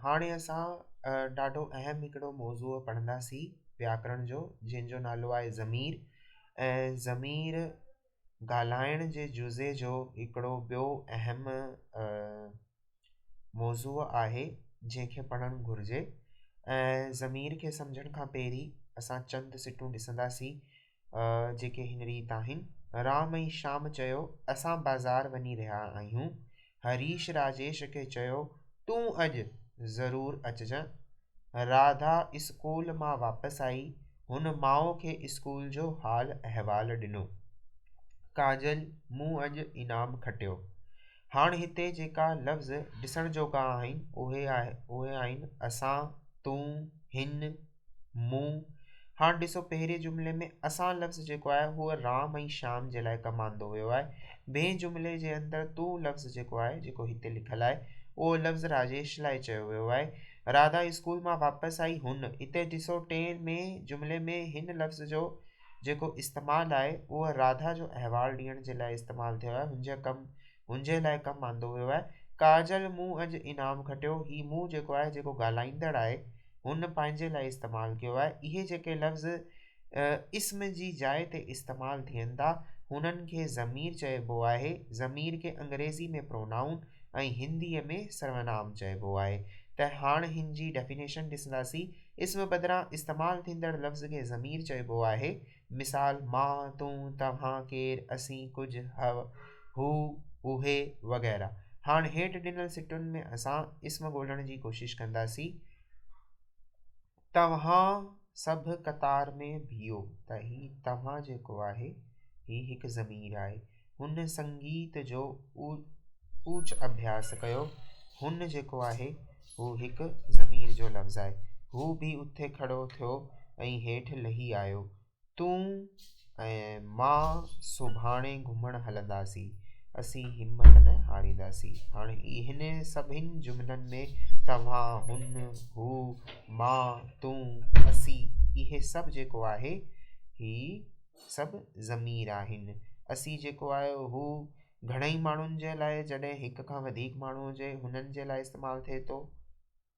هاڻي اسان ڏاڍو اهم هڪڙو موضوع پڙهنداسين وياڪرڻ جو جنهن جو نالو آهي ضمير ۽ ضمير ڳالهائڻ جي جزي جو هڪڙو ٻيو اهم موضوع آهي جنهن کي پڙهڻ گهرجي ۽ ضمير کي سمجهڻ کان پهرين اسان چند سٽون ڏسنداسين جيڪي هن ريت آهن، رام ۽ شام چيو، اسان بازار وڃي رهيا آهيون. هريش راجيش کي چيو، تون اڄ ضرور اچجان. راڌا اسڪول مان واپس آئي، هن ماء کي اسڪول جو حال احوال ڏنو. ڪاجل مون اڄ انعام کٽيو. هاڻ هتي جيڪا لفظ ڏسڻ جوڳا آهن، اهي آهن، اسان، تون، هن، مون، هاڻ ڏسو پهرين جملي ۾ اسان لفظ جيڪو آهي هو رام ۽ شيام جي لاء ڪم آندو ويو آهي. ٻئي جملي جي اندر تون لفظ جيڪو آهي جيڪو هتي لکيل آهي اهو لفظ راجيش لاء چيو ويو آهي. راڌا اسڪول مان واپس آئي هن، هتي ڏسو ٽئين ۾ جملي ۾ هن لفظ جو جيڪو استعمال آهي اهو راڌا جو احوال ڏيڻ جي لاء استعمال ٿيو آهي هن جا ڪم منهنجي لاء ڪم آندو ويو آهي. ڪاجل مون اڄ انعام کٽيو. هي مون جيڪو آهي جيڪو ڳالهائيندڙ آهي هن پنهنجي لاء استعمال ڪيو آهي. اهي جيڪي لفظ اسم جي جاء تي استعمال ٿين ٿا هنن کي ضمير چئبو آهي. ضمير کي انگريزي ۾ Pronoun ۽ هندي ۾ سرونام چئبو آهي ته هاڻ هن جي ڊيفينيشن ڏسنداسين. اسم بدران استعمال ٿيندڙ لفظ کي ضمير چئبو آهي. مثال، مان، تون، توهان، ڪير، اسين، ڪجهه، هو، اهي وغيره. هاڻ هيٺ ڏنل سٽن ۾ اسان اسم ڳولڻ جي ڪوشش ڪنداسين. توهان سڀ قطار ۾ بيهو ته هي توهان جيڪو آهي، هي هڪ ضمير آهي. هن سنگيت جو اوچ اڀياس ڪيو. هن جيڪو آهي، هو هڪ ضمير جو لفظ آهي. هو به اٿي کڙو ٿيو ۽ هيٺ لهي آيو. تون ۽ مان سڀاڻي گهمڻ هلنداسين. اسين همت نه هارينداسين. هاڻي هن سڀني جملن ۾ توهان، هن، هو، مان، تون، اسين، اهي سڀ جيڪو آهي، هي، سڀ ضمير آهن. اسي جيڪو آهي هو گهڻئي ماڻهن جي لاء جڏهن هڪ کان وڌيڪ ماڻهو هجي هنن جي لاء استعمال ٿئي ٿو.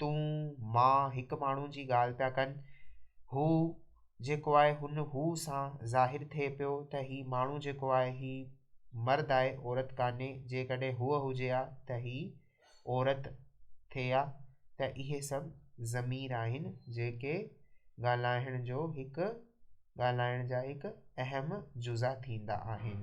تون، مان هڪ ماڻهو جي ڳالهه پيا ڪن. هو جيڪو آهي هن هو سان ظاهر ٿئي پيو ته هي ماڻهو جيڪو آهي هي مرد آهي عورت ڪانهي جيڪڏهن هوء هجي ها ته هي عورت ٿئي آ ته اهي سڀ ضمير آهن جيڪي ڳالهائڻ جو هڪ ڳالهائڻ جا هڪ اهم جزا ٿيندا آهن.